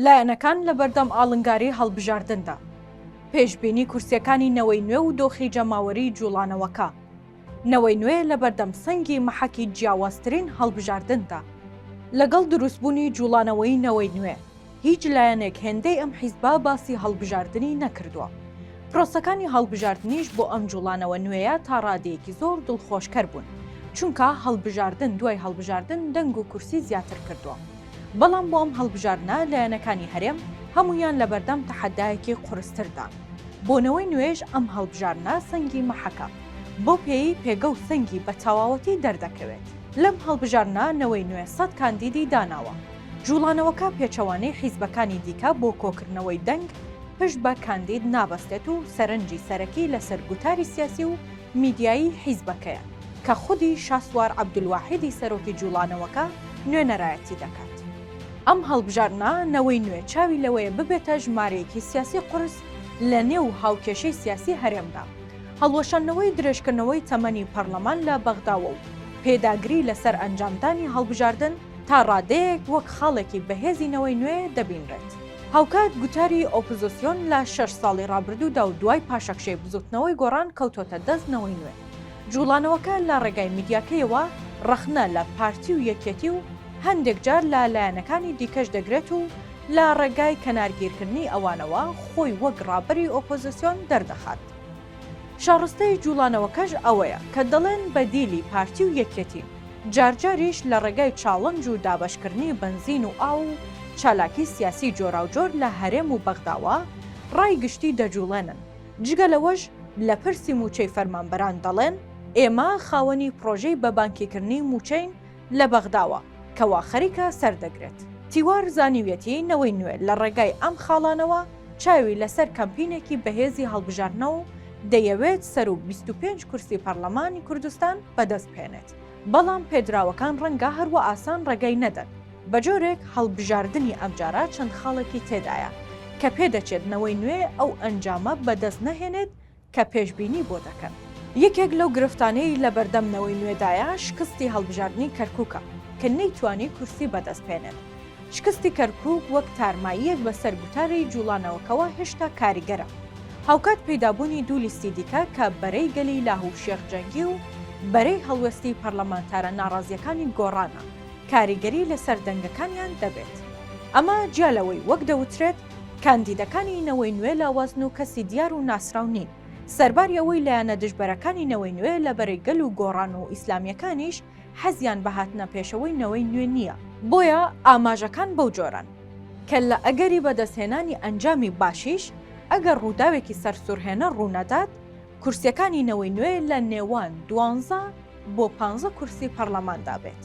لایەنەکان لەبەردەم ئاڵنگاری هەڵبژاردندا، پێشبینی کورسیەکانی نەوەی نوێ و دۆخی جەماوەریی جوڵانەوەکە، نەوەی نوێ لەبەردەم سەنگی مەحەکی جیاوازترین هەڵبژاردندا، لەگەڵ دروستبوونی جوڵانەوەی نەوەی نوێ هیچ لایەنێک هێندەی ئەم حیزبە باسی هەڵبژاردنی نەکردووە، پرۆسەکانی هەڵبژاردنیش بۆ ئەم جوڵانەوە نوێیە تا ڕادەیەکی زۆر دڵخۆشکەر بوون، چونکە هەڵبژاردن دوای هەڵبژاردن دەنگ و کورسی زیاتر کردووە. بەڵام بۆ ئەم هەڵبژاردنە لایەنەکانی هەرێم هەموویان لەبەردەم تەحەدایەکی قورستردان. بۆ نەوەی نوێیش ئەم هەڵبژاردنە سەنگی مەحەکە، بەو پێیەی پێگە و سەنگی بە تەواوەتی دەردەکەوێت. لەم هەڵبژاردنە نەوەی نوێ سەد کاندیدی داناوە. جوڵانەوەکە پێچەوانەی حیزبەکانی دیکە بۆ کۆکردنەوەی دەنگ پشت بە کاندید نابەستێت و سەرنجی سەرەکی لەسەر گوتاری سیاسی و میدیایی حیزبەکەیە کە خودی شاسوار عەبدولواحیدی سەرۆکی جوڵانەوەکە نوێنەرایەتی دەکات. ئەم هەڵبژاردنە نەوەی نوێ چاوی لەوەیە ببێتە ژمارەیەکی سیاسی قورس لە نێو هاوکێشەی سیاسی هەرێمدا. هەڵوەشاندنەوەی درێژکردنەوەی تەمەنی پەرلەمان لە بەغداوە و پێداگری لەسەر ئەنجامدانی هەڵبژاردن تا ڕادەیەک وەک خاڵێکی بەهێزی نەوەی نوێ دەبینرێت. هاوکات گوتاری ئۆپزسیۆن لە شەش ساڵی ڕابردوودا و دوای پاشەکشەی بزوتنەوەی گۆڕان کەوتۆتە دەست نەوەی نوێ. جوڵانەوەکە لە ڕێگای میدیاکەیەوە ڕەخنە لە پارتی و یەکێتی و هەندێک جار لە لایەنەکانی دیکەش دەگرێت و لە ڕێگای کەنارگیرکردنی ئەوانەوە خۆی وەک ڕابەری ئۆپۆزسیۆن دەردەخات. شاڕستەی جوڵانەوەکەش ئەوەیە کە دەڵێن بەدیلی پارتی و یەکێتین. جارجاریش لە ڕێگای چاڵنج و دابەشکردنی بەنزین و ئاو و چالاکی سیاسی جۆراوجۆر لە هەرێم و بەغداوە ڕای گشتی دەجوڵێنن، جگە لەوەش لە پرسی موچەی فەرمانبەران دەڵێن ئێمە خاوەنی پرۆژەی بە بانکیکردنی موچەین لە بەغداوە کەوا خەریکە سەردەگرێت. تیوار زانیویەتی نەوەی نوێ لە ڕێگای ئەم خاڵانەوە چاوی لەسەر کەمپینێکی بەهێزی هەڵبژاردنەوە و دەیەوێت سەروو بیست و پێنج کورسی پەڕلەمانی کوردستان بەدەست بهێنێت، بەڵام پێدراوەکان ڕەنگە هەروا ئاسان ڕێگای نەدەن، بەجۆرێک هەڵبژاردنی ئەمجارە چەند خاڵێکی تێدایە، کە پێدەچێت نەوەی نوێ ئەو ئەنجامە بەدەست نەهێنێت کە پێشبینی بۆ دەکەن. یەکێک لەو گرفتانەی لەبەردەم نەوەی نوێدایە شکستی هەڵبژاردنی کەرکوکە، کە نەیتوانی کورسی بەدەست بهێنێت، شکستی کەرکووک وەک تارماییەک بەسەر گوتاری جووڵانەوەکەوە هێشتا کاریگەرە. هاوکات پەیدابوونی دوو لیستی دیکە کە بەرەی گەلی لاه و شێخ جەنگی و بەرەی هەڵوێستی پەرلەمانتارە ناڕازییەکانی گۆڕانە، کاریگەری لەسەر دەنگەکانیان دەبێت. ئەمە جیا لەوەی وەک دەوترێت کاندیدەکانی نەوەی نوێ لاوازن و کەسی دیار و ناسراو نین، سەرباری ئەوەی لایەنە دژبەرەکانی نەوەی نوێ لە بەرەی گەل و گۆڕان و ئیسلامییەکانیش، حەزیان بە هاتنە پێشەوەی نەوەی نوێ نییە. بۆیە ئاماژەکان بەو جۆرەن. کەللە ئەگەری بەدەستهێنانی ئەنجامی باشیش ئەگەر ڕووداوێکی سەرسوڕهێنەر ڕوونەدات، کورسییەکانی نەوەی نوێ لە نێوان دوانزە بۆ پانزە کورسی پەرلەماندا بێت.